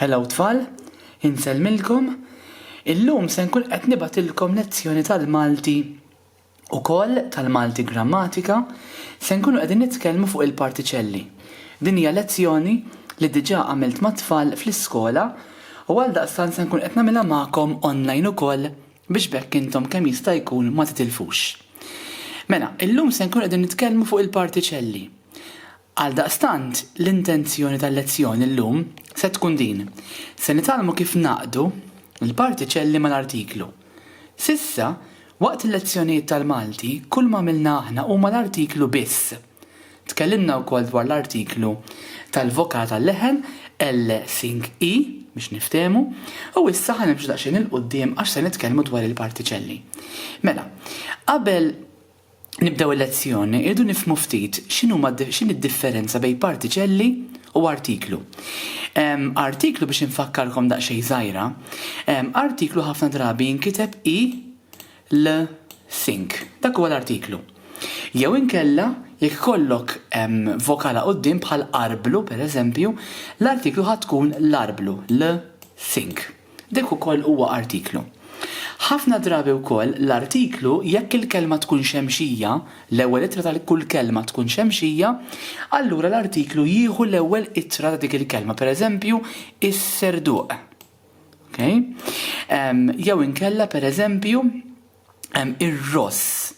Hello tfal, insellmilkom. Illum se nkun qed nibatilkom lezzjoni tal-Malti ukoll tal-Malti grammatika se nkunu qegħdin nitkellmu fuq il-partiċelli. Din hija lezzjoni li diġà għamilt mat-tfal fl-iskola u għal daqstan se nkun qed nagħmilha magħkom online ukoll biex b'hekk intom kemm jista' jkun ma titilfux. Mela, illum se nkunu qegħdin nitkellmu fuq il-partiċelli. Għaldaqstant, l-intenzjoni tal-lezzjoni llum se tkun din, se nitgħallmu kif ngħaqqdu l-partiċelli mal-artiklu. S'issa, waqt il-lezzjonijiet tal-Malti, kull m'għamilna aħna huma l-artiklu biss. Tkellimna wkoll dwar l-artiklu tal-Voka tal-Leħen, Elle Sing I, biex niftehmu, u issa ħa nimxu daqsxejn 'il quddiem għax se nitkellmu dwar il-partiċelli. Mela, qabel nibdew il-lezzjoni irridu nifhmu ftit x'inhuma x'inhi d-differenza bejn partiċelli u artiklu. Artiklu biex infakkarkom daqsxejn żgħira, artiklu ħafna drabi jinkiteb i l think. Dak huwa l-artiklu. Jew inkella, jekk ikollok vokala quddiem bħal arblu, pereżempju, l-artiklu ħa tkun l-arblu, l think. Dak ukoll huwa artiklu. Ħafna drabi wkoll l-artiklu, jekk il-kelma tkun xemxija, l-ewwel ittra ta' kull kelma tkun xemxija, allura l-artiklu jieħu l-ewwel ittra ta' dik il-kelma, pereżempju, is-Serduq. Okay? Um, jew inkella per eżempju um, ir-ross.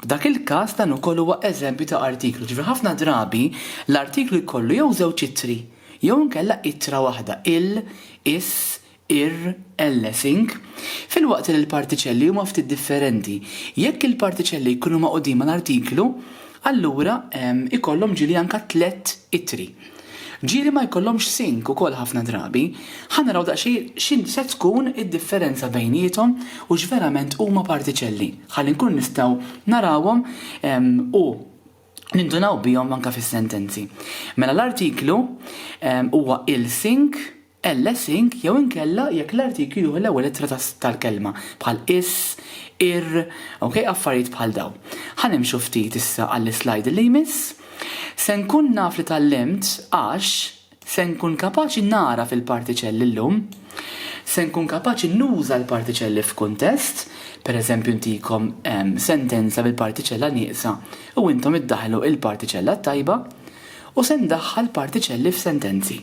Dak il-każ dan ukoll huwa eżempju ta' artiklu. Ġifieri ħafna drabi l-artiklu jkollu jew żewġ itri, jew inkella itra waħda il, is, ir, ellesing. Fil-waqt li l-partiċelli huma ftit differenti, jekk il-partiċelli jkunu maqudin mal-artiklu, allura ikollhom ġili anka tlet itri. Ġieli ma jkollhomx sink ukoll ħafna drabi. Ħa naraw daqsxejn x'inhi se tkun id-differenza bejniethom u x'verament huma partiċelli, ħalli nkunu nistgħu narawhom u nindunaw bihom anke fis-sentenzi. Mela l-artiklu huwa il-sink, ls ink jew inkella jekk l-artikju jieħu l-ewwel ittra ta' tal-kelma, bħal is, ir, ok, affarijiet bħal dawn. Ħa nimxu ftit issa għall-islajd li jmiss. Se nkun naf li tgħallimt għax se nkun kapaċi nagħraf il-partiċelli llum. Se nkun kapaċi nuża l-partiċelli f'kuntest, pereżempju ntikom sentenza bil-partiċella nieqsa u intom iddaħħlu l-partiċella t-tajba, u se ndaħħal partiċelli f'sentenzi.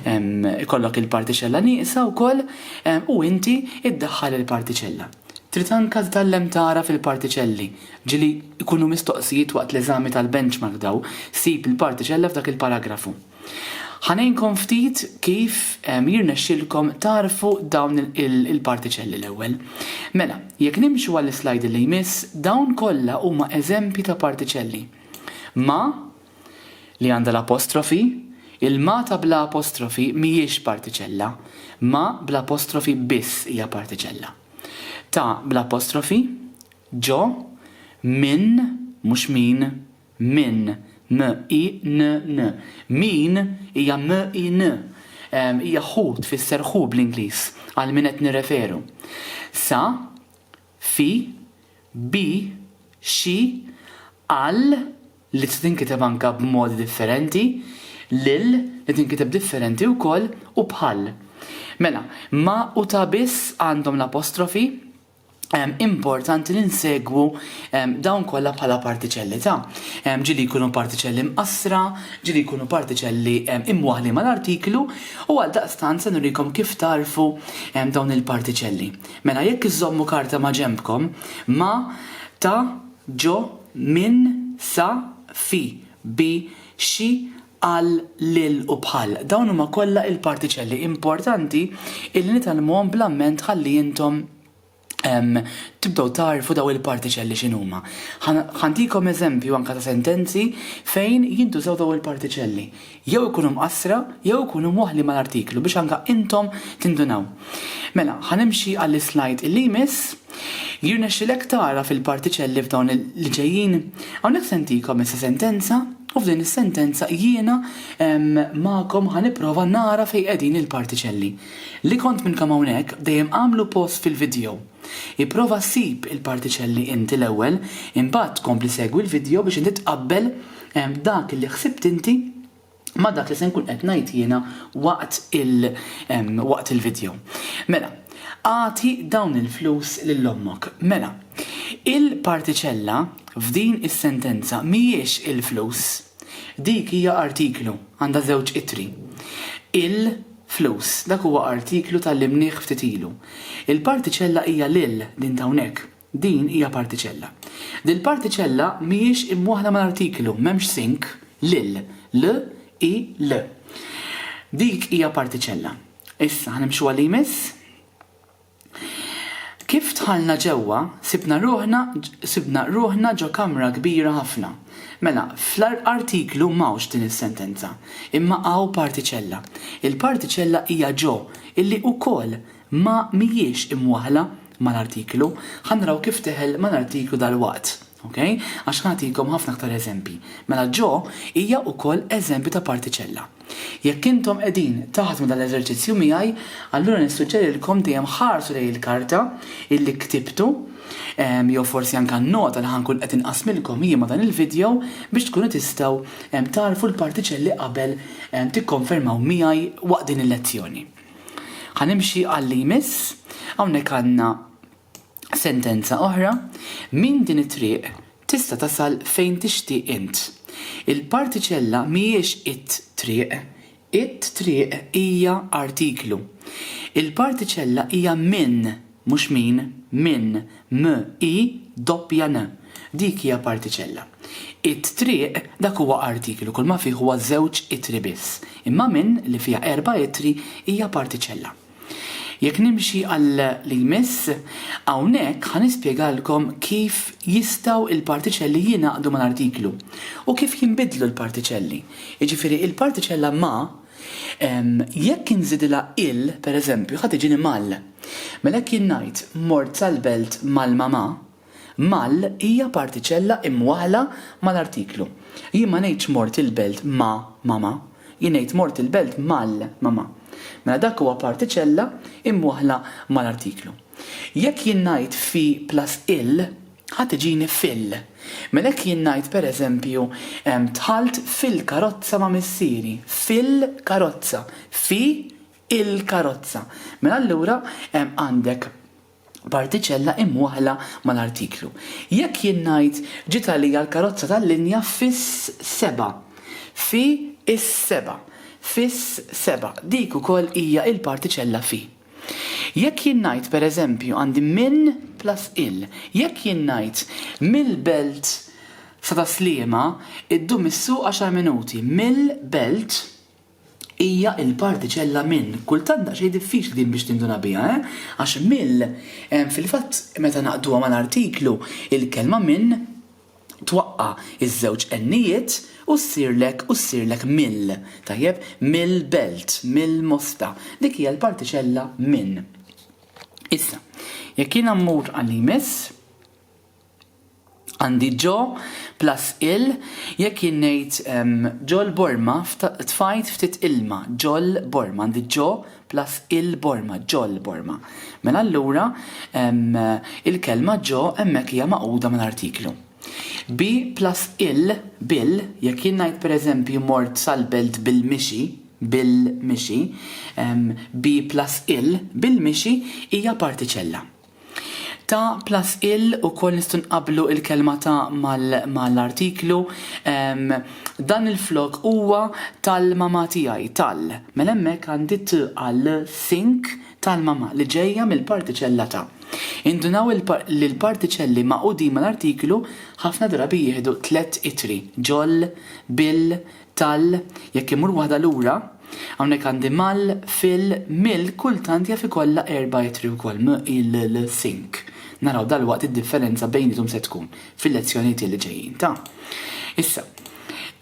Ikollok il-partiċella nieqsa wkoll u inti iddaħħal il-partiċella. Trid anka tgħallem tara fil-partiċelli, ġieli jkunu mistoqsijiet waqt l-eżami tal-benchmark daw, sib il-partiċella f'dak il-paragrafu. Ħa ngħinkom ftit kif jirnexxilkom tagħrfu dawn il-partiċelli l-ewwel. Mela, jekk nimxu għall-islajd li jmiss, dawn kollha huma eżempji ta' partiċelli. Ma, li għandha l-apostrofi, il-ma ta' bla apostrofi mhijiex partiċella, ma bla apostrofi biss hija partiċella. Ta bla apostrofi, ġo, minn, mhux min, minn, m i n n, min hija m i n, hija who tfisser who bl-Ingliż, għal min qed nirreferu. Sa, fi, bi, xi, għal, li tista' tinkiteb anke b'modi differenti, lil, li tinkiteb differenti wkoll, u bħal. Mela, ma' u ta' biss għandhom l-apostrofi, importanti li nsegwu dawn kollha bħala partiċelli ta', ġieli jkunu partiċelli mqassra, ġieli jkunu partiċelli imwaħħlin mal-artiklu, u għaldaqstant se nurikom kif tagħrfu dawn il-partiċelli. Mela jekk iżżommu karta ma' ġenbkom, ma, ta, ġo, minn, sa, fi, bi, xi, għal, lil u bħal, dawn huma kollha il-partiċelli importanti illi nitgħallmuhom bl-amment ħalli intom tibdew tagħrfu dawn il-partiċelli x'inhuma. Ħa ntikom eżempju anke ta' sentenzi fejn jintużaw dawn il-partiċelli. jew ikunu mqassra jew ikunu mwaħħlin mal-artiklu biex anke intom tindunaw. Mela, ħa nimxi għall-islajd li jmiss. Jirnexxilek tara fil-partiċelli f'dawn li ġejjin? Hawnhekk se ntikom issa sentenza u f'din is-sentenza jiena magħkom ħa nipprova nara fejn qegħdin il-partiċelli. Li kont minnkom hawnhekk dejjem agħmlu pause fil-vidjow. Ipprova ssib il-partiċelli inti l-ewwel, imbagħad tkompli segwi l-vidjo biex inti tqabbel dak li ħsibt inti ma' dak li se nkun qed ngħid jiena waqt il waqt il-vidjo. Mela, agħti dawn il-flus lil ommok. Mela, il-partiċella f'din is-sentenza mhijiex il-flus. Dik hija artiklu, għandha żewġ ittri. Il Flus, dak huwa artiklu tgħallimnih ftit ilu. Il-partiċella hija l-il, din t'hawnhekk. Din hija partiċella. Dil-partiċella mhijiex imwaħħla mal-artiklu, m'hemmx sync, l-il, l, i, l. Dik hija partiċella. Issa, ħa nimxu għal li jmiss? Kif dħalna ġewwa, sibna ruħna sibna ruħna ġo kamra kbira ħafna. Mela, fl-artiklu m'hawnx din is-sentenza, imma hawn partiċella. Il-partiċella hija ġo, illi wkoll ma mhijiex imwaħħla mal-artiklu. Ħa naraw kif tidħel mal-artiklu dalwaqt. Okej? Għax nagħtikom ħafna aktar eżempji. Mela ġo hija wkoll eżempju ta' partiċella. Jekk intom qegħdin taħdmu dan l-eżerċizzju miegħi, allura nissuġġerilkom dejjem ħarsu lejn il-karta illi ktibtu, jew forsi anke n-nota li ħa nkun qed inqassmilkom jien ma' dan il-vidjow biex tkunu tistgħu tagħrfu l-partiċelli qabel tikkonfermaw miegħi waqt din il-lezzjoni. Ħa nimxi għal li jmiss, hawnhekk għandna Sentenza oħra, Minn din it-triq tista' tasal fejn tixtieq int. Il-partiċella mhijiex it-triq. It-triq hija artiklu. Il-partiċella hija minn, mhux min, minn, m-i doppja n. Dik hija partiċella. It-triq, dak huwa artiklu, kulma fih huwa żewġ ittri biss. Imma minn, li fiha erba' ittri, hija partiċella. Jekk nimxi għal li jmiss, hawnhekk ħa nispjegalkom kif jistgħu l-partiċelli jingħaqdu mal-artiklu u kif jinbidlu l-partiċelli. Jiġifieri il-partiċella ma' jekk inżidilha il pereżempju ħa tiġini mal. Mela jekk jien ngħid mort sal-belt mal-mamà, Mal hija partiċella imwaħħla mal-artiklu. Jien ma ngħidx mort il-belt ma' mama. Jien ngħid mort il-belt mal mama. Mela dak huwa partiċella imwaħħla mal-artiklu. Jekk jien ngħid fi plus il, ħa tiġini fil. Mela jekk jien ngħid per eżempju dħalt fil-karozza ma' missieri, fil-karozza, fi il-karozza. Mela allura għandek partiċella imwaħħla mal-artiklu. Jekk jien ngħid ġiet għalija l-karozza tal-linja fis-seba'. Fi s-seba'. Fis-seba'. Dik ukoll hija l-partiċella fi. Jekk jien ngħid, per eżempju, għandi minn plus il. Jekk jien ngħid mill-Belt sa Tas-Sliema, iddum is-suq għaxar minuti. Mill-Belt. Hija l-partiċella min. Kultant daqsxejn diffiċli din biex tinduna biha, eh? Għax mill. Fil-fatt, meta naqduha mal-artiklu, il-kelma min twaqqa' iż-żewġ n-ijiet u ssirlek u ssirlek mill. Tajjeb? Mill-belt, mill-mosta. Dik hija l-partiċella min. Issa, jekk jiena mmur għal li jmiss. Għandi ġo plus ill jekk jien ngħid ġol-borma tfajt ftit ilma, ġol-borma, għandi ġo plus il-borma, ġol-borma. Mela allura il-kelma ġo hemmhekk hija magħquda mal-artiklu. Bi plus ill, bil, jekk jien ngħid pereżempju mort sal-belt bil-mixi, bil-mixi, bi plus ill, bil-mixi hija partiċella. Ta' plus ill ukoll nistgħu nqabblu l-kelma ta' mal-artiklu. Dan il-flok huwa tal-mamà tiegħi, tal. Mela hemmhekk għandi t għal think tal-mamà li ġejja mill-partiċella ta'. Indunaw li l-partiċelli magħqudin mal-artiklu ħafna drabi jieħdu tliet ittri, ġol, bil, Tal, jekk immur waħda lura, hawnhekk għandi mal, fil, mill, kultant jaf ikollha erba' ittri wkoll, m, il, l, sink. Naraw dalwaqt id-differenza bejniethom se tkun fil-lezzjonijiet li ġejjin ta'. Issa,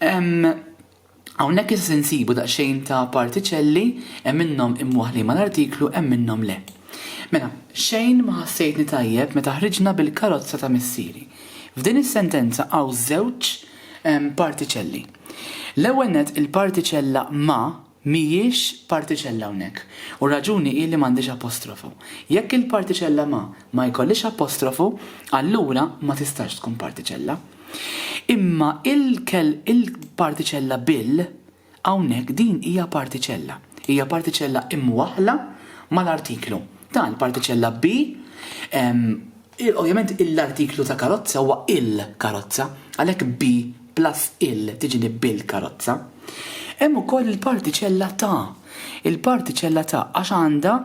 hawnhekk issa se nsibu daqsxejn ta' partiċelli, hemm minnhom imwaħħlin mal-artiklu, hemm minnhom le. Mela, xejn ma ħassejtni tajjeb meta ħriġna bil-karozza ta' missieri. F'din is-sentenza hawn żewġ Partiċelli. L-ewwel nett il-partiċella ma mhijiex partiċella hawnhekk, u r-raġuni hi li m'għandhiex apostrofu. Jekk il-partiċella ma ma jkollhiex apostrofu, allura ma tistax tkun partiċella. Imma il-partiċella bil Hawnhekk din hija partiċella. Hija partiċella imwaħħla mal-artiklu. Dan il-partiċella bi, ovvjament l-artiklu ta' karozza huwa il-karozza, għalhekk bi plus il tiġini bil-karozza. Hemm ukoll il-partiċella ta'. Il-partiċella ta' għax għandha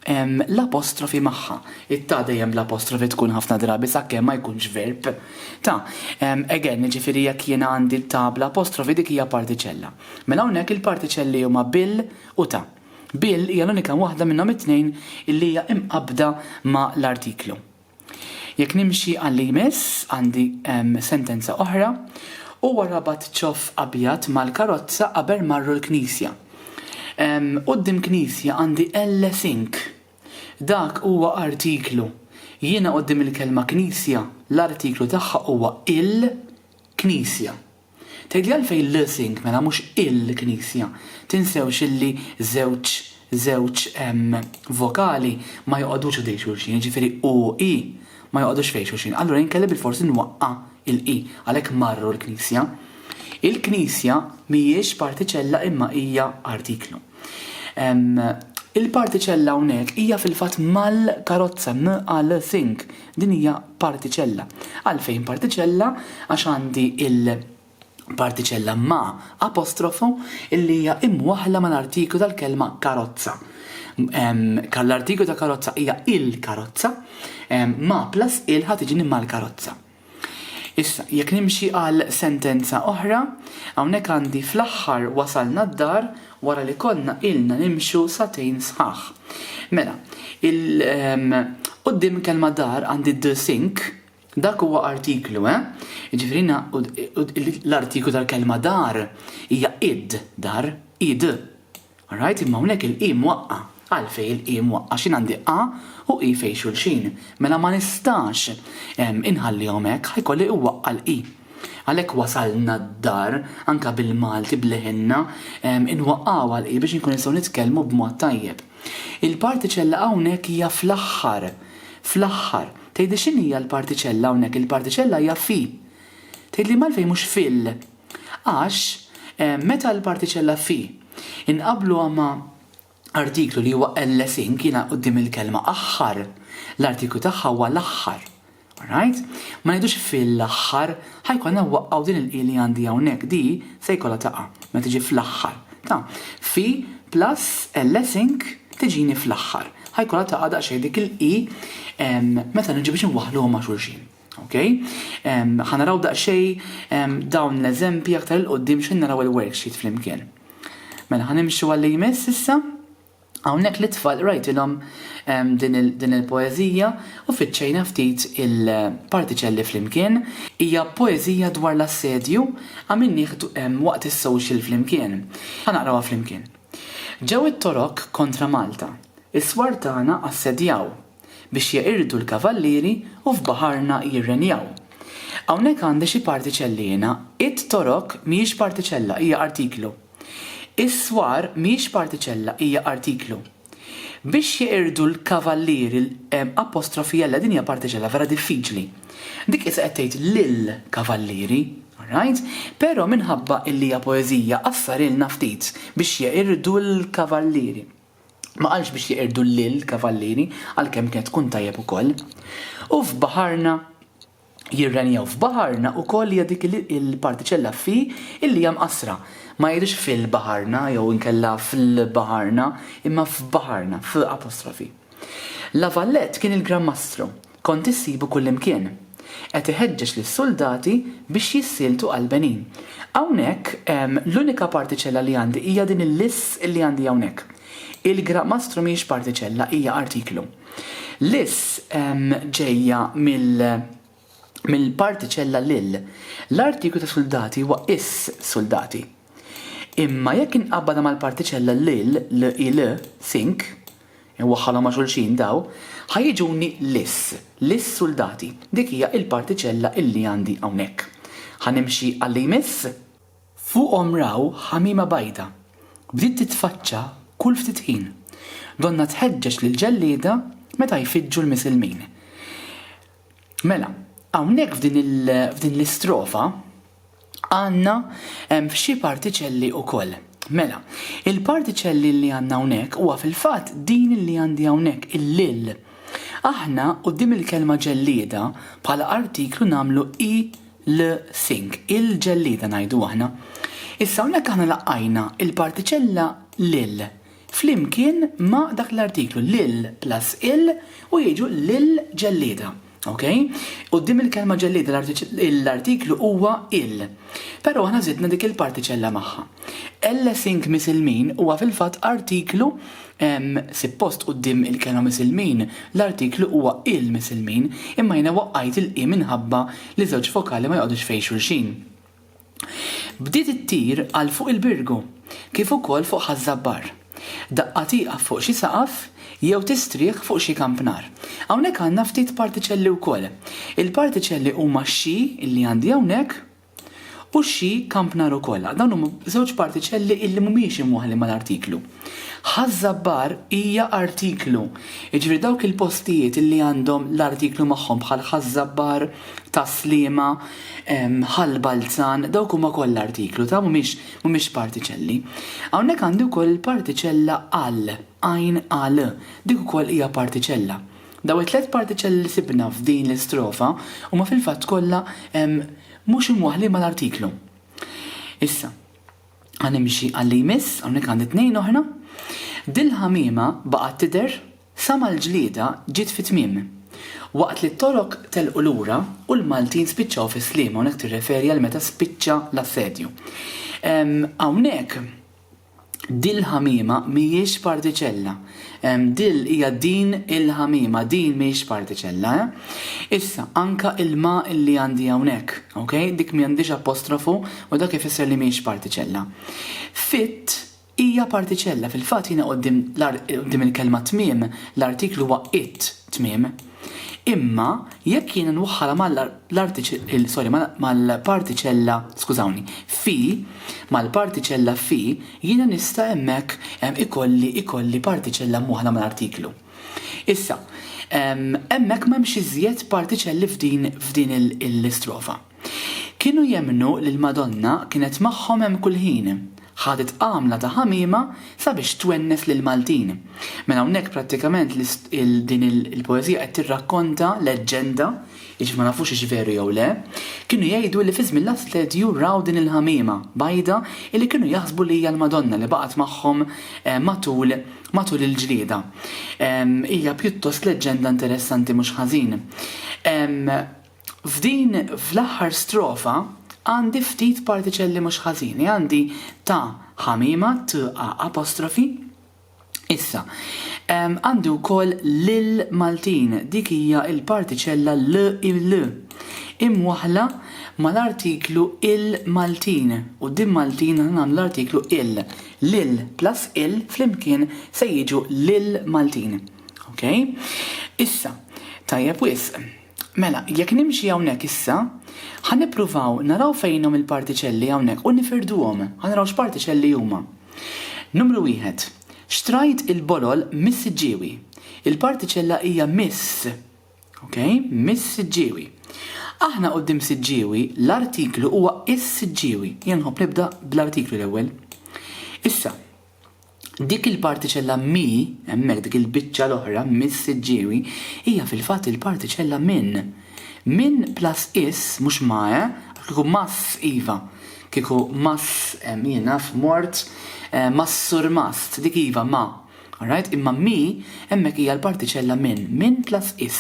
l-apostrofi magħha. It-ta' dejjem bl-apostrofi tkun ħafna drabi sakemm ma jkunx verb. Ta'. Again, jiġifieri jekk jiena għandi l-ta' bl-apostrofi dik hija partiċella. Mela hawnhekk il-partiċelli huma bil u ta'. Bil hija l-unika waħda minnhom it-tnejn illi hija imqabbda ma' l-artiklu. Jekk nimxi għalli jmiss għandi sentenza oħra, Huwa rabat ċoff abjad mal-karozza qabel marru l-knisja. Quddiem knisja għandi elle sink. Dak huwa artiklu. Jiena quddiem il-kelma knisja l-artiklu tagħha huwa il-knisja. Tgħidli għalfejn l-Sync mela mhux il-Knisja? Tinsewx illi żewġ żewġ vokali ma joqogħdux ħdejn xulxin, jiġifieri u i ma joqogħdux fejn xulxin. Allura jien kelli bilfors nwaqqa' il-i, għalhekk marru l-Knisja. Il-Knisja mhijiex partiċella imma hija artiklu. Il-partiċella hawnhekk hija fil-fatt mal-karozza, m-a-l-sync, Din hija partiċella. Għalfejn partiċella? Għax għandi il-partiċella ma' apostrofo illi hija imwaħħla mal-artiklu tal-kelma karozza. L-artiklu ta' karozza hija il-karozza, ma' plus il ħa tiġini mal-karozza. Issa, jekk nimxi għal sentenza oħra, hawnhekk għandi fl-aħħar wasalna d-dar wara li konna ilna nimxu sagħtejn sħaħ. Mela, il, ehm, quddiem il-kelma dar għandi the sink, dak huwa artiklu, eh? Jiġifieri l-artiklu tal-kelma dar hija id, dar, id. Alright, imma hawnhekk il-qi mwaqqa'. Għalfejn il-I mwaqqgħa x'in għandi A u I fejn xulxin, mela ma nistax inħallihom hekk, ħa jkolli iwaqqa' l-I. Għalhekk wasalna d-dar, anke bil-Malti b'leħinna, inwaqqgħuha l-I biex inkunu nistgħu nitkellmu b'mod tajjeb. Il-partiċella hawnhekk hija fl-aħħar, fl-aħħar. Tgħidli x'inhija l-partiċella hawnhekk? Il-partiċella hija fi. Tgħidli m'għalfejn mhux fil? Għax meta l-partiċella fi inqabbluha ma' Artiklu li huwa ellesing jiena quddiem il-kelma aħħar. L-artiklu tagħha huwa l-aħħar. Alright? Ma ngħidux fil-aħħar, ħa jkollna wwaqqgħu din il-i li għandi hawnhekk, di se jkollha taqa' meta tiġi fl-aħħar. Ta, fi plus ellesing tiġini fl-aħħar. Ħa jkollha taqa' daqsxejn dik il-i meta niġi biex inwaħħluhom ma' xulxin. Okej? Ħa naraw daqsxejn dawn l-eżempji aktar 'il quddiem x'ħin naraw il-worksheet flimkien. Mela ħa nimxu għalli jmiss issa. Hawnhekk lit-tfal qrajtilhom din il-poeżija u fittxejna ftit il-partiċelli flimkien. Hija poeżija dwar l-assedju għamilnih waqt is-social flimkien. Ħa naqrawha flimkien. Ġew it-Torok kontra Malta. Is-swar tagħna assedjaw. biex jeqirdu l-kavallieri u f'baħarna jirrenjaw. Hawnhekk għandi xi partiċelli jiena, it, torok, mhijiex partiċella, hija artiklu. Is-swar mhijiex partiċella, hija artiklu. Biex jeqirdu l-kavallieri l-L din hija partiċella vera diffiċli. Dik issa qed tgħid lill-kavallieri, alright? Però minħabba illi hija poeżija qassarilna ftit, biex jeqirdu l-kavallieri. Ma qalx biex jeqirdu llil kavallieri, għalkemm kienet tkun tajjeb ukoll. U f'baħarna jirrenjaw. F'baħarna ukoll hija dik il-partiċella f'fi illi hija mqassra. Ma jgħidux fil-baħarna jew inkella fl-baħarna, imma f'baħarna, f' apostrofi. La Valette kien il-Gran Mastru. Kont issibu kullimkien. Qed iħeġġeġ lis-suldati biex jissieltu għall-Benin. Hawnhekk, l-unika partiċella li għandi hija din il-lis li għandi hawnhekk. Il-gramastru mhijiex partiċella, hija artiklu. Lis ġejja mill-partiċella lil. L-artiklu ta' suldati huwa is, suldati. Imma jekk inqabbadha mal-partiċella lil, l-il, sink, Inwaħħalhom ma' xulxin daw. Ħa jiġuni lis. Lis-suldati. Dik hija l-partiċella illi għandi hawnhekk. Ħa nimxi għal li jmiss? Fuqhom raw ħamima bajda. Bdiet titfaċċa kull ftit ħin. Donnha tħeġġeġ lill-ġellieda meta jfiġġu l-Misilmin. Mela, hawnhekk f'din l-istrofa, għandna xi partiċelli wkoll. Mela, il-partiċelli li għandna hawnhekk huwa fil-fatt din li għandi hawnhekk, il-lil. Aħna quddiem il-kelma ġellieda bħala artiklu nagħmlu il-thing, il-ġellieda ngħidu aħna. Issa hawnhekk aħna laqajna l-partiċella lil. flimkien ma' dak l-artiklu, lil plus il u jiġu l-ġellieda. Okej? Quddiem il-kelma ġellieda l-artiklu huwa il. Però aħna żidna dik il-partiċella magħha. L-Sink Misilmin huwa fil-fatt artiklu Sippost quddiem il-kelma Misilmin l-artiklu huwa il-Misilmin imma jiena waqqajt il-i minħabba li żewġ vokali ma joqgħodux fejn xulxin. Bdiet ittir għal fuq il-Birgu, kif ukoll fuq Ħaż-Żabbar. Daqqa tieqaf fuq xi saqaf jew tistrieħ fuq xi kampnar. Hawnhekk għandna ftit partiċelli wkoll. Il-partiċelli huma x-xi li għandi hawnhekk u x-xi kampnar ukoll. Dawn huma żewġ partiċelli li mhumiex imwaħħlin mal-artiklu. Ħaż-Żabbar hija artiklu, jiġifieri dawk il-postijiet li għandhom l-artiklu magħhom bħal Ħaż-Żabbar, Tas-Sliema, ħall balzan, dawk huma kollha artiklu ta' mhumiex mhumiex partiċelli. Hawnhekk għandi wkoll il-partiċella al, għajn al, dik ukoll hija partiċella. Daw it-tliet partiċelli li sibna f'din l-istrofa huma fil-fatt kollha mhux imwaħħlin mal-artiklu. Issa, ħa nimxi għal-li jmiss, hawnhekk għandi tnejn oħra. Dil-ħamiema baqgħet tidher Sa ma l-ġlieda ġiet fi tmiem. Waqt li t-Torok telqu lura u l-Maltin spiċċaw fi Sliema hawnhekk tirreferi għal meta spiċċa l-assedju. Hawnhekk dil-ħamiema mhijiex partiċella. Dil hija din il-ħamiema, din mhijiex partiċella, eh? Issa, anka il-ma li għandi hawnhekk, ok? Dik m'għandhiex apostrofu u dak ifisser li mhijiex partiċella. Fit Hija partiċella, fil-fatt jiena quddiem quddiem il-kelma tmiem, l-artiklu huwa it, tmiem. Imma jekk jiena nwaħħalha mal, l-artiċ, sorry, mal, mal-partiċella, skużawni, fi, mal-partiċella fi, jiena nista' hemmhekk ikolli, ikolli partiċella mwaħħla mal-artiklu. Issa, hemmhekk m'hemmx iżjed partiċelli f'din, f'din il-istrofa. Kienu jemmnu li l-Madonna kienet magħhom hemm kull ħin. Ħadet għamla ta' ħamiema sabiex twennes lill-Maltin. Mela hawnhekk prattikament din il-poeżija qed tirrakkonta leġġenda, jiġifieri ma nafux hix veru jew le, kienu jgħidu li fi żmien l-Assedju raw din il-ħamiema bajda illi kienu jaħsbu li hija l-Madonna li baqgħet magħhom matul matul il-ġlieda. Hija pjuttost leġġenda interessanti mhux ħażin. F'din fl-aħħar strofa għandi ftit partiċelli mhux ħażini, għandi ta' ħamiema, t a apostrofi. Issa, għandi wkoll lil Maltin, dik hija l-partiċella l i l imwaħħla mal-artiklu il Maltin u din Maltin aħna nagħmlu l-artiklu il. Lil plus il flimkien se jiġu lil Maltin. Okay? Issa, tajjeb wisq. Mela, jekk nimxi hawnhekk issa, ħa nippruvaw naraw fejnhom il-partiċelli hawnhekk u nifirduhom. Ħa naraw x'partiċelli huma. Numru wieħed, xtrajt il-bolol mis-siġġiewi. Il-partiċella hija miss. Ok? Mis-siġġiewi. Aħna quddiem siġġiewi, l-artiklu huwa is-siġġiewi. Jien nħobb nibda bl-artiklu l-ewwel. Issa, Dik il-partiċella mi, hemmhekk, dik il-biċċa l-oħra, mis-siġġiewi, hija fil-fatt il-partiċella min. Min plus is, mhux ma, eh? Għax kieku mas, iva. Kieku mas, jien naf, mort, mas surmast, dik iva, ma. All right? Imma mi, hemmhekk hija l-partiċella min. Min plus is.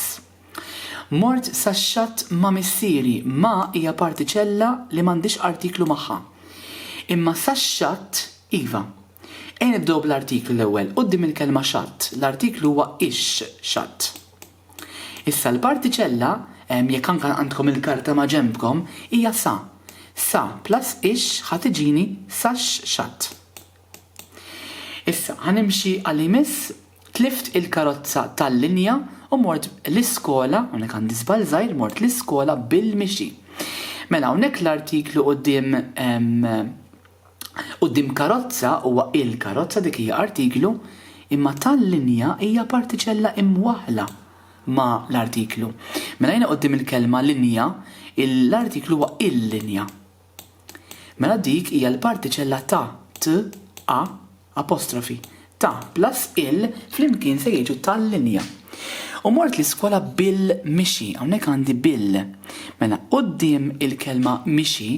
Mort sax-xatt ma' missieri, ma' hija partiċella li m'għandhiex artiklu magħha. Imma sax-xatt, iva. Ejja nibdew bl-artiklu l-ewwel. Quddiem il-kelma xatt, l-artiklu huwa ix-xatt. Issa l-partiċella, jekk anke għandkom il-karta maġenbkom, hija sa. Sa plus ix ħa tiġini sax-xatt. Issa, ħa nimxi għal li jmiss, tlift il-karozza tal-linja u mort l-iskola, hawnhekk għandi żball żgħir, mort l-iskola bil-mixi. Mela hawnhekk l-artiklu quddiem quddiem karozza huwa il-karozza dik hija artiklu, imma tal-linja hija partiċella imwaħħla ma' l-artiklu. Mela jiena quddiem il-kelma linja, l-artiklu huwa il-linja. Mela dik hija l-partiċella ta', t, a, apostrofi, ta' plus il flimkien se jiġu ta' linja. U mort l-iskola bil mixi, hawnhekk għandi bil. Mela quddiem il-kelma mixi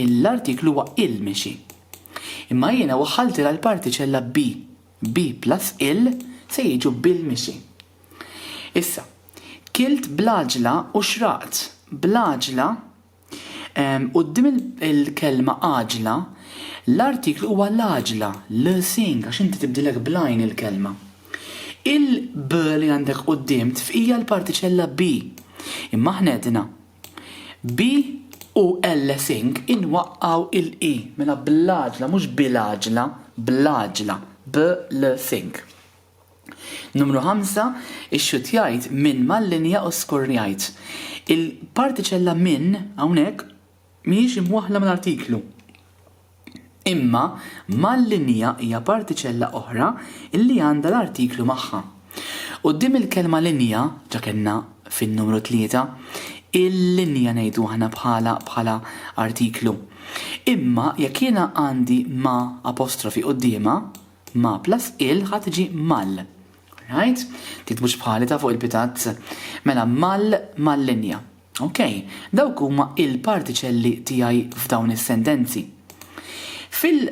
l-artiklu huwa il mixi. Imma jiena waħħaltilha l-partiċella bi, bi plus il se jiġu bil mixi. Issa, kilt bl-għaġla u xraqt bl-għaġla Quddiem il-kelma għaġla, l-artiklu huwa l-għaġla, l-seeing, għax inti tibdilek bl-għajn il-kelma. Il-b li għandek quddiem tfqija l-partiċella be, imma aħna għedna be u l-seeing inwaqqgħu il-e, mela bl-għaġla, mhux bil-għaġla, bl-għaġla, b-l-seeing. Numru ħamsa, ixxutjajt minn mal-linja u skorjajt. Il-partiċella minn hawnhekk mhijiex imwaħħla mal-artiklu. Imma mal-linja hija partiċella oħra li għandha l-artiklu magħha. Quddiem il-kelma linja, ġa kellna fin-numru tlieta, il-linja ngħidu aħna bħala bħala artiklu. Imma jekk jiena għandi ma' apostrofi quddiemha, Ma plus il ħa tiġi mal. Alright? Tiktbux bħali ta' fuq il-pitat. Mela mal mal-linja. Ok, dawk huma il-partiċelli tiegħi f'dawn is-sentenzi. Fil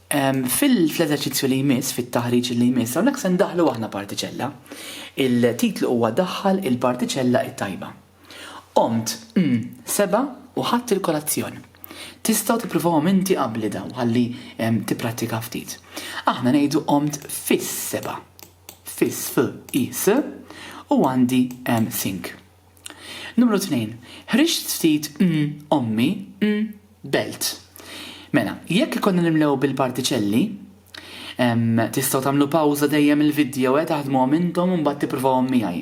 ehm, fil-eżerċizzju li jmiss, fit-taħriġ li jmiss, hawnhekk se ndaħlu aħna partiċella. Il-titlu huwa daħħal il-partiċella it-tajba. Qomt, mm, sebgħa u ħadt il-kolazzjon. Tistgħu tippruvawhom inti qabli dawn ħalli tipprattika ftit. Aħna ngħidu qomt fis-sebgħa. Fis, f, i, s, u għandi sink. Numru tnejn, ħriġt ftit mm ommi mm belt. Mela, jekk ikonna nimlew bil-partiċelli, Tistgħu tagħmlu pawża dejjem il-vidjoe eh taħdmuhom intom u mbagħad tippruvawhom miegħi.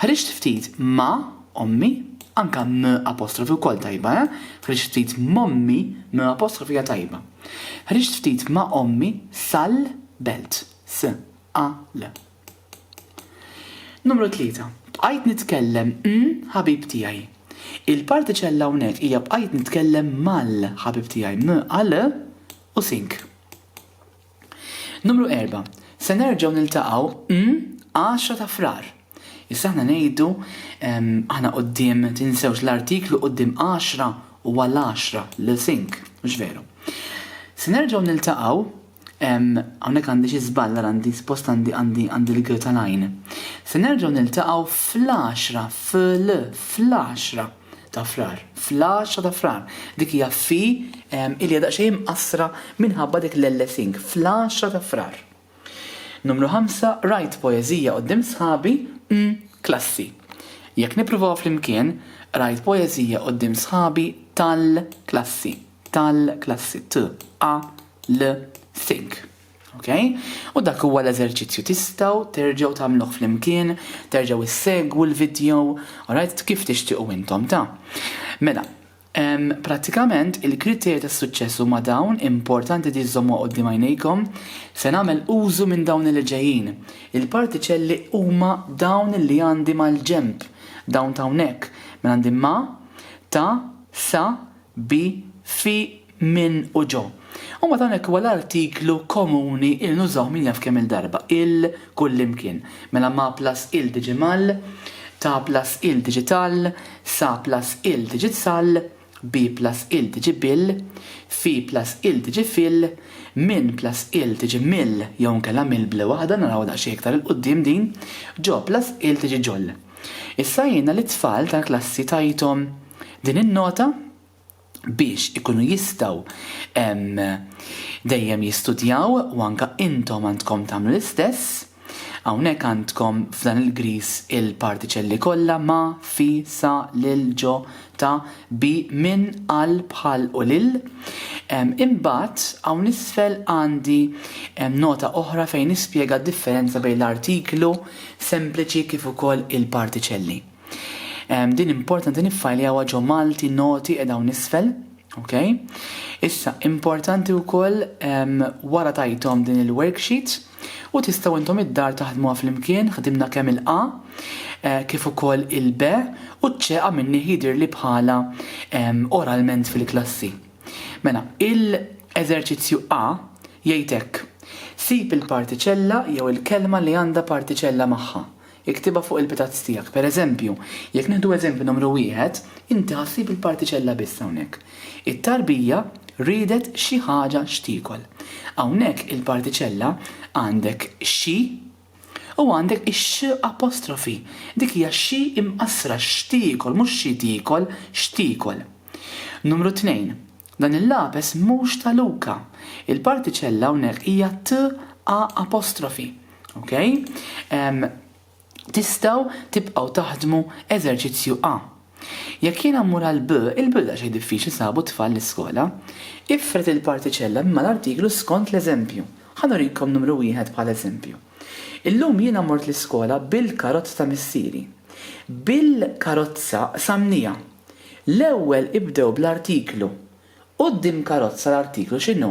Ħriġt ftit ma' ommi, anka m' apostrofi wkoll tajba eh, ħriġt ftit m'ommi, m' apostrofi hija tajba. Ħriġt ftit ma' ommi sal belt. S, a, l. Numru tlieta, Bqajt nitkellem m' ħabib tiegħi. Il-partiċella hawnhekk hija bqajt nitkellem mal-ħabib tiegħi, m' a l, u sink. Numru erba', Se nerġgħu niltaqgħu mm, għaxra ta' Frar. Issa aħna ngħidu ehm, aħna quddiem tinsewx l-artiklu quddiem għaxra huwa l-għaxra l sink, mhux veru. Se nerġgħu niltaqgħu ehm, hawnhekk għandi xi żball għandi spost għandi għandi għandi l-gir tal-għajn. Se nerġgħu niltaqgħu fl-għaxra, fl, fl-għaxra. ta' Frar, fl-10 ta' Frar. Dik hija fi ehm, ilja daqsxejn imqassra minħabba dik l-ellesing, fl-10 ta' Frar. Numru 5, rajt poeżija qudiem sħabi, mm, klassi. Jekk nippruvaw flimkien, rajt poeżija qudiem sħabi tal-klassi, tal-klassi, t, a, l, think. Okay? U dak huwa l-eżerċizzju tistgħu terġgħu tagħmluh flimkien, terġgħu issegwu l-video, alright, kif tixtiequ intom ta'. Mela, Pratikament, il-kriterji ta' suċċess huma dawn importanti li żommu qudiem għajnejkom se nagħmel użu minn dawn li ġejjin. Il-partiċelli huma dawn li għandi mal-ġemp, dawn ta' hawnhekk, minn għandi ma, ta, sa, Bi, fi, minn u ġo. U mbagħad hawnhekk huwa l-artiklu komuni li nużaw min jaf kemm-il darba, il, kullimkien. Mela ma plus il tiġi mal, ta plus il tiġi tal, sa plus il tiġi sal, bi plus il tiġi bil, fi plus il tiġi fil, minn plus il tiġi mill jew inkella mill bl waħda, narawha daqsxejn iktar 'il quddiem din, ġo plus il tiġi ġol. Issa jiena lit-tfal tal-klassi tajthom din in-nota biex ikunu jistgħu dejjem jistudjaw u anke intom għandkom tagħmlu l-istess. Hawnhekk għandkom f'dan il-griż il-partiċelli kollha ma', fi, sa, lil, ġo, ta', bi, minn, għal, bħal u lil. Imbagħad hawn isfel għandi nota oħra fejn nispjega d-differenza bejn l-artiklu sempliċi kif ukoll il-partiċelli. Din importanti niffajljawha ġo Malti noti qiegħda hawn isfel. Ok? Issa, importanti wkoll wara tajtom din il-worksheet u tistgħu intom id-dar taħdmuha flimkien ħdimna kemm il-A eh, kif ukoll il-B u ċ-ċe għamilni jidir li bħala oralment fil-klassi. Mela, il-eżerċizzju A jgħid hekk, Sib il-partiċella jew il-kelma li għandha partiċella magħha. Iktibha fuq il-pitazz tiegħek. Per eżempju, jekk nieħdu eżempju numru wieħed, inti ħa ssib il-partiċella biss hawnhekk. It-tarbija riedet xi ħaġa x'tiekol. Hawnhekk il-partiċella għandek xi U għandek ix-x apostrofi. Dik hija xi imqassra, x'tiekol, mhux xi tiekol, x'tiekol. Numru tnejn, dan il-lapes mhux ta' Luka. Il-partiċella hawnhekk hija t a apostrofi. Ok? Tistgħu tibqgħu taħdmu eżerċizzju A. Jekk jiena mmur għal B, il-bidla xejn diffiċli sabu t-tfal l-iskola. Ifred il-partiċella minn mal-artiklu skont l-eżempju. Ħa nurikom numru wieħed bħala eżempju. Illum jiena mort l-iskola bil-karozza ta' missieri. Bil-karozza qsamniha. L-ewwel ibdew bl-artiklu. Quddiem karozza l-artiklu x'inhu?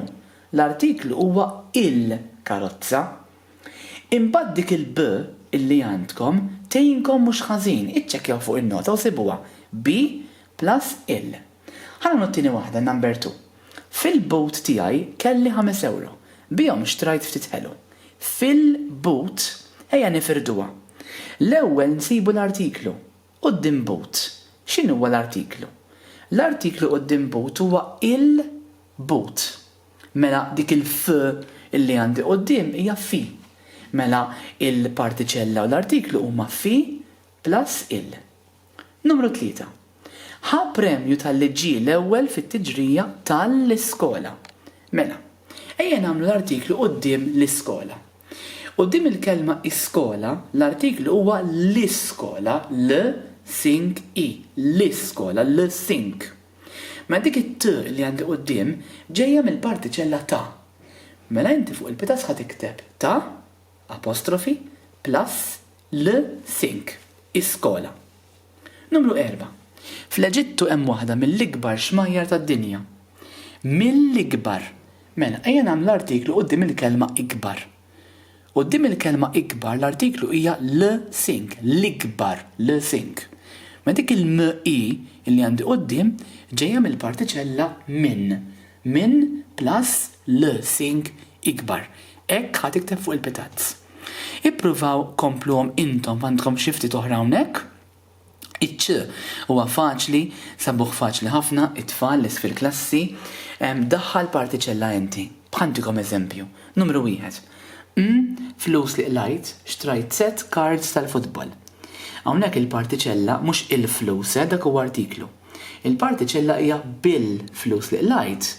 L-artiklu huwa il-karozza. Imbagħad dik il-B illi għandkom tgħinkom mhux ħażin, iċċekkjaw fuq in-nota u sibuha, B plus il. Ħa nagħmlu t-tieni waħda, number two. Fil-boot tiegħi kelli ħames ewro. Bihom xtrajt ftit ħelu. Fil-boot, ejja nifirduha. L-ewwel nsibu l-artiklu. Quddiem boot, x'inhuwa l-artiklu? L-artiklu quddiem boot huwa il-boot. Mela dik il-f illi għandi quddiem hija fi. Mela il-partiċella u l-artiklu huma fi plus il. Numru tlieta. Ħa premju talli ġie l-ewwel fit-tiġrija tal-iskola. Mela, ejja nagħmlu l-artiklu quddiem l-iskola. Quddiem il-kelma iskola, l-artiklu huwa l-iskola, l, sink, i, l-iskola, l, sink. Mela dik it-t li għandi quddiem ġejja mill-partiċella ta'. Mela inti fuq il-pitaż ħa tikteb ta', apostrofi, plus, l, sink, iskola. Numru erba'. Fl-Eġittu hemm waħda mill-ikbar xmajjar tad-dinja. Mill-ikbar. Mela ejja nagħmlu l-artiklu quddiem il-kelma ikbar. Quddiem il-kelma ikbar l-artiklu hija l sink, l-ikbar, l sink. Ma dik il m i li għandi quddiem ġejja mill-partiċella min, min plus l sink ikbar. Hekk ħa tikteb fuq il-pitazz. Ippruvaw kompluhom intom f'għandkom xi ftit oħra hawnhekk. Iċ-ċ huwa faċli, sabuh faċli ħafna, it-tfal, li fil-klassi, daħħal partiċella inti. Bħal ntikom eżempju. Numru wieħed. Mn, flus li qlajt, xtrajt sett cards tal-futbol. Hawnhekk il-partiċella mhux il-flus, eh, dak huwa artiklu. Il-partiċella hija bil-flus li qlajt,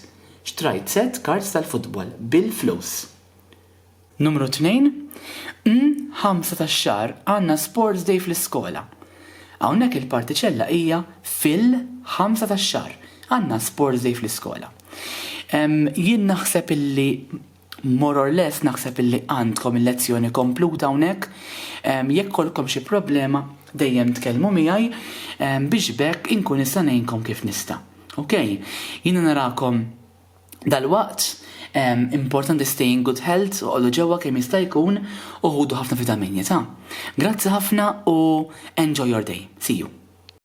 xtrajt sett cards tal-futbol, bil-flus. Numru tnejn, N ħamsa tax-xahar għandna sports day fl-iskola. Hawnhekk il-partiċella hija fil ħamsa tax-xahar għandna sports day fl-iskola. Jien naħseb illi more or less naħseb illi għandkom il-lezzjoni kompluta hawnhekk. Jekk kollkom xi problema dejjem tkellmu miegħi biex bekk inkun nista' ngħinkom kif nista'. Okej, jiena narakom Dalwaqt, importanti stay in good health, oqogħdu ġewwa kemm jista' jkun u ħudu ħafna vitaminji ta'. Grazzi ħafna u enjoy your day. See you.